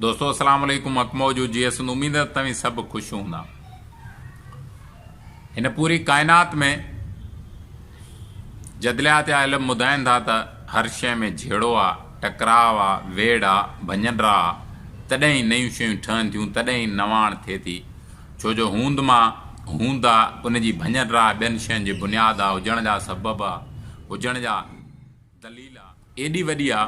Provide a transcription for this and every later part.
دوستو اسلام عليڪم حق موجود جي اسند اميد ته توهين سڀ خوش هوندا هن پوري ڪائنات ۾ جدليات يا علم ٻڌائن ٿا ته هر شيء ۾ جهيڙو آ ٽڪراء آ ويڙ آ ڀڃن را آ تڏهن ئي نيون شيون ٺهن ٿيون تڏهن ئي نواڻ ٿئي ٿي ڇو جو هوند مان هوند آ ان جي ڀڃن را ٻين شين جي بنياد آ هجڻ جا سبب آ هجڻ جا دليل آ ايڏي وڏي آ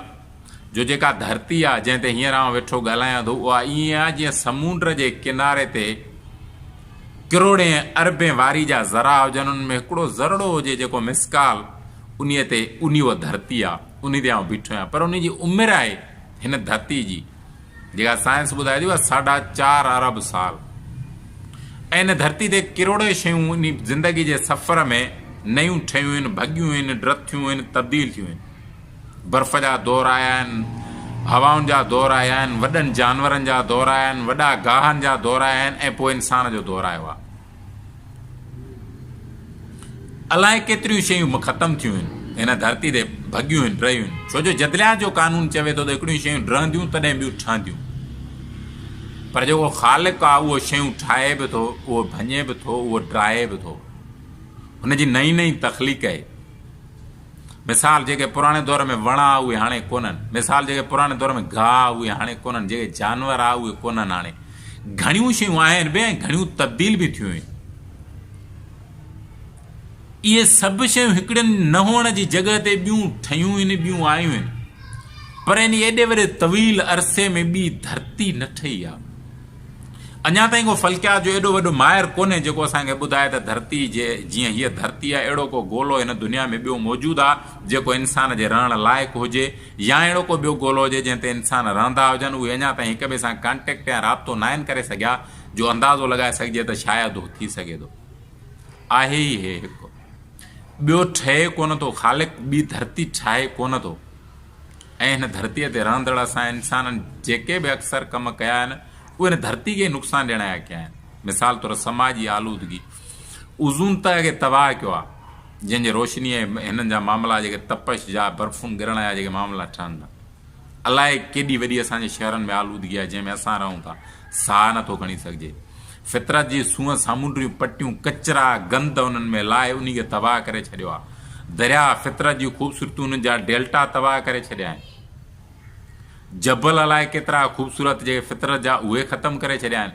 جو جيڪا ڌرتي آ جنهن تي هينئر آئون ويٺو ڳالهايان ٿو اها ائين آ جيئن سمونڊ جي ڪناري تي ڪروڙين اربين واري جا ذرا هجن انهن ۾ هڪڙو ذرڙو هجي جيڪو مسڪال انهي تي انهي اها ڌرتي آ انهي تي آئون بيٺو آهيان پر انهي جي عمر آهي هن ڌرتي جي جيڪا سائنس ٻڌائي ٿي اها ساڍا چار ارب سال ۽ هن ڌرتي تي ڪروڙين شيون انهي زندگي جي سفر ۾ نيون ٺهيون آهن، ڀڳيون آهن، ڊٿيون آهن، تبديل ٿيون آهن. برف جا دور آيا آهن، هوائن جا دور آيا آهن، وڏن جانورن جا دور آيا آهن، وڏا گاهن جا دور آيا آهن ۽ پوء انسان جو دور آيو آهي. الائي ڪيتريون شيون ختم ٿيون آهن، هن ڌرتي تي ڀڳيون آهن، رهيون آهن، ڇو جو جدليات جو قانون چوي ٿو ته هڪڙيون شيون ڊهنديون تڏهن ٻيون ٺهنديون. پر جيڪو خالق آهي اهو شيون ٺاهي به ٿو، اهو ڀڃي به ٿو، اهو ڊاهي به ٿو. هن جي نئين نئين تخليق آهي. مثال جيڪي پراڻي دور ۾ وڻ آ اهي هاڻي ڪونهن مثال جيڪي پراڻي دور ۾ گاهه آ اهي هاڻي ڪونهن جيڪي جانور آ اهي ڪونهن هاڻي گهڻيون شيون آهن به ۽ گهڻيون تبديل به ٿيون آهن اهي سڀ شيون هڪڙين نه هئڻ جي جڳهه تي ٻيون ٺهيون آهن ٻيون آيون آهن پر ان ايڏي وڏي طويل عرصي ۾ ٻي ڌرتي نه ٺهي آ اڃا تائين ڪو فلڪيات جو ايڏو وڏو ماهر ڪونهي جيڪو اسان کي ٻڌائي ته ڌرتي جي جيئن هيء ڌرتي آهي اهڙو ڪو گولو هن دنيا ۾ ٻيو موجود آهي جيڪو انسان جي رهڻ لائق هجي يا اهڙو ڪو ٻيو گولو هجي جنهن تي انسان رهندا هجن اهي اڃا تائين هڪ ٻئي سان ڪانٽيڪٽ يا رابطو ناهن ڪري سگهيا جو اندازو لڳائي سگهجي ته شايد اهو ٿي سگهي ٿو آهي ئي هي هڪ ٻيو ٺهي ڪونه ٿو خالق ٻي ڌرتي ٺاهي ڪونه ٿو. ۽ هن ڌرتيء تي رهندڙ اسان انسانن جيڪي به اڪثر ڪم ڪيا آهن، اهي هن ڌرتيء کي ئي نقصان ڏيڻ آيا ڪيا آهن. مثال طور سماجي آلودگي اوزون تهه کي تباهه ڪيو آهي، جنهن جي روشنيء هنن جا معاملا جيڪي تپش جا برفون ڳرڻ جا جيڪي معاملا ٺهن ٿا. الائي ڪيڏي وڏي اسان جي شهرن ۾ آلودگي آهي، جنهن ۾ اسان رهون ٿا، ساهه نٿو کڻي سگهجي. فطرت جي سونهن سامونڊريون پٽيون ڪچرا گند انهن ۾ لاهي انهي کي تباهه ڪري ڇڏيو آهي دريا فطرت جي خوبصورتيون انهن جا ڊيلٽا تباهه ڪري ڇڏيا آهن جبل الائي ڪيترا خوبصورت جيڪي فطرت جا اهي ختم ڪري ڇڏيا آهن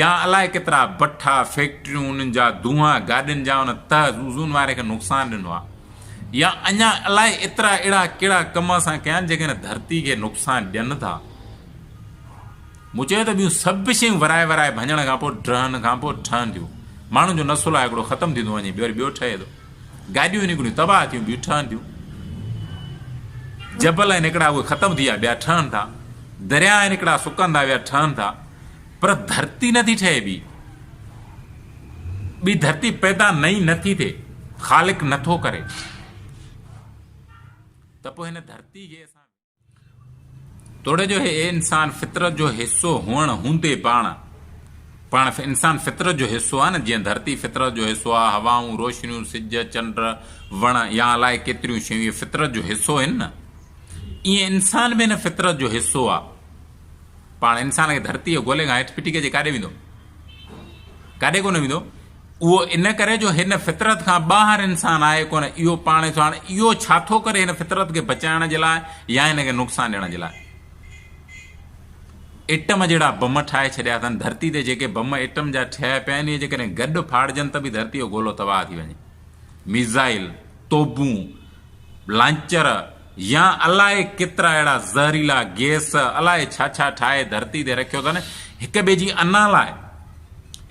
يا الائي ڪيترا بٺا فيڪٽريون انهن جا دونها گاڏين جا ان تهه زوزون واري کي نقصان ڏنو آهي يا اڃا الائي ايترا اهڙا ڪهڙا ڪم اسان ڪيا آهن جيڪي هن ڌرتي کي نقصان ڏين ٿا مون چيو ته ٻيون سڀ شيون ورائي ورائي ڀڃڻ کان پوء ڊهن کان پوء ٺهنديون. ماڻهن جو نسل آهي هڪڙو ختم ٿيندو وڃي وري ٻيو ٺهي ٿو. گاڏيون نڪريون تباهه ٿيون ٻيون ٺهن ٿيون. جبل آهن هڪڙا اهي ختم ٿي ويا ٻيا ٺهن ٿا. درياء آهن هڪڙا سڪن ٿا ٻيا ٺهن ٿا. پر ڌرتي نٿي ٺهي ٻي. ٻي ڌرتي پيدا نئين نٿي ٿئي. خالق نٿو ڪري. ته پوء هن ڌرتي کي اسان توڙي جو هي انسان فطرت جو حصو هئڻ هوندي پاڻ پاڻ انسان فطرت جو حصو آهي نه جيئن ڌرتي فطرت جو حصو آهي هوائون روشنيون سج چنڊ وڻ يا الائي ڪيتريون شيون اهي فطرت جو حصو آهن نه ائين انسان به هن فطرت جو حصو آهي پاڻ انسان کي ڌرتي جي گولي کان هيٺ ڦٽي ڪجي ڪاڏي ويندو ڪاڏي ڪونه ويندو. اهو ان ڪري جو هن فطرت کان ٻاهر انسان آهي ڪونه. اهو پاڻ ڏسو هاڻي اهو ڇا ٿو ڪري هن فطرت کي بچائڻ جي لاء يا هن کي نقصان ڏيڻ جي لاء. ايٽم جهڙا بم ٺاهي ڇڏيا اٿن ڌرتي تي جيڪي بم ايٽم جا ٺهيا پيا آهن اهي جيڪڏهن گڏ ڦاڙجن ته به ڌرتي جو گولو تباهه ٿي وڃي. ميزائل، توبون، لانچر يا الائي ڪيترا اهڙا زهريلا گيس الائي ڇا ڇا ٺاهي ڌرتي تي رکيو اٿن هڪ ٻئي جي انا لاء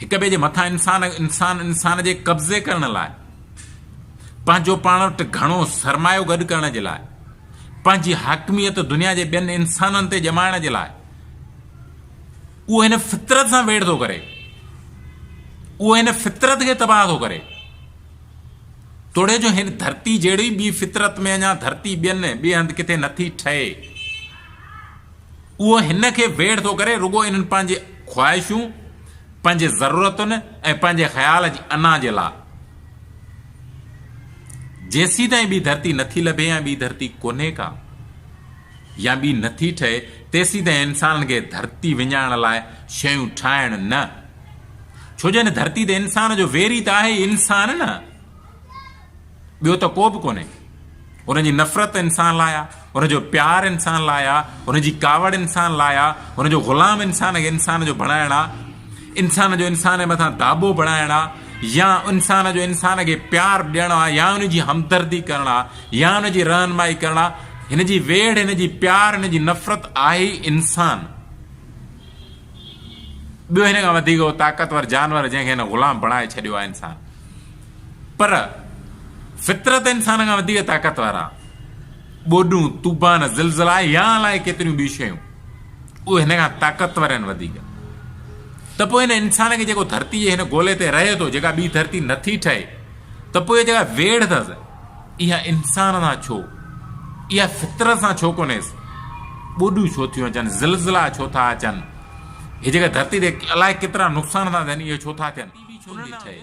هڪ ٻئي جي مٿان انسان انسان انسان جي قبضي ڪرڻ لاء پنهنجو پاڻ وٽ گهڻو سرمايو گڏ ڪرڻ جي لاء پنهنجي حاڪميت دنيا جي ٻين انسانن تي ڄمائڻ جي لاء اهو هن فطرت سان ويڙ ٿو ڪري اهو هن فطرت کي تباهه ٿو ڪري توڙي جو هن ڌرتي جهڙي ٻي فطرت ۾ اڃا ڌرتي ٻين ٻئي هنڌ ڪٿي نٿي ٺهي. اهو هن کي ويڙهه ٿو ڪري رڳو انهن پنهنجي خواهشون، پنهنجي ضرورتن ۽ پنهنجي خيال جي انا جي لاء. جيسيتائين ٻي ڌرتي نٿي لڀي ۽ ٻي ڌرتي ڪونهي ڪا. يا ٻي نه ٿي ٺهي، تيسيتائين انسانن کي ڌرتي وڃائڻ لاء شيون ٺاهڻ نه. ڇو جو هن ڌرتي تي انسان جو ويري ته آهي ئي انسان نه، ٻيو ته ڪو به ڪونهي. هن جي نفرت انسان لاء آهي، هن جو پيار انسان لاء آهي، هن جي ڪاوڙ انسان لاء آهي، هن جو غلام انسان کي انسان جو بڻائڻ آهي، انسان جو انسان جي مٿان داٻو بڻائڻ آهي يا انسان جو انسان کي پيار ڏيڻ آهي يا ان جي همدردي ڪرڻ آهي. يا هن جي رهنمائي ڪرڻ آ، هن جي ويڙهه، هن جي پيار، هن جي نفرت آهي ئي انسان. ٻيو هن کان وڌيڪ اهو طاقتور جانور جنهن کي هن غلام بڻائي ڇڏيو آهي انسان. پر فطرت انسان کان وڌيڪ طاقتور آ. ٻوڏون، طوفان، زلزلا يا الائي ڪيتريون ٻيون شيون اهي هن کان طاقتور آهن وڌيڪ. ته پوء هن انسان کي جيڪو ڌرتي جي هن گولي تي رهي ٿو، جيڪا ٻي ڌرتي نٿي ٺهي، ته پوء اها جيڪا ويڙهه اٿس، اها انسان سان ڇو؟ اها فطرت سان ڇو ڪونهيس؟ ٻوڏون ڇو ٿيون اچن؟ زلزلا ڇو ٿا اچن؟ هي جيڪا ڌرتي تي الائي ڪيترا نقصان ٿا ٿين اهي ڇو ٿا ٿين؟ ٽي وي ڇو نٿي ٺهي؟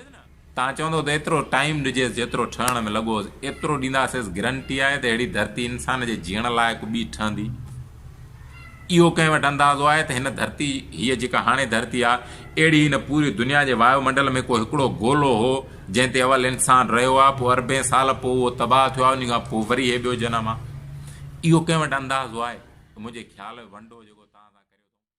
تان چوندو ته ايترو ٽائيم ڏجيس جيترو ٺهڻ ۾ لڳو هوس ايترو ڏينداسيس گرنٽي آهي ته اهڙي ڌرتي انسان جي جيئڻ لائق ٻي ٺهندي. اهو ڪنهن وٽ اندازو آهي ته هن ڌرتي، هيء جيڪا هاڻي ڌرتي آهي، اهڙي هن پوري دنيا جي وايو منڊل ۾ ڪو هڪڙو گولو هو، جنهن تي اول انسان رهيو آهي، پوء اربين سال پوء اهو تباهه ٿيو آهي، انهيء کان پوء وري هيء ٻيو جنم آهي. اهو ڪنهن وٽ اندازو آهي ته منهنجي خيال ۾ ونڊو جيڪو توهان سان ڪريو ٿو،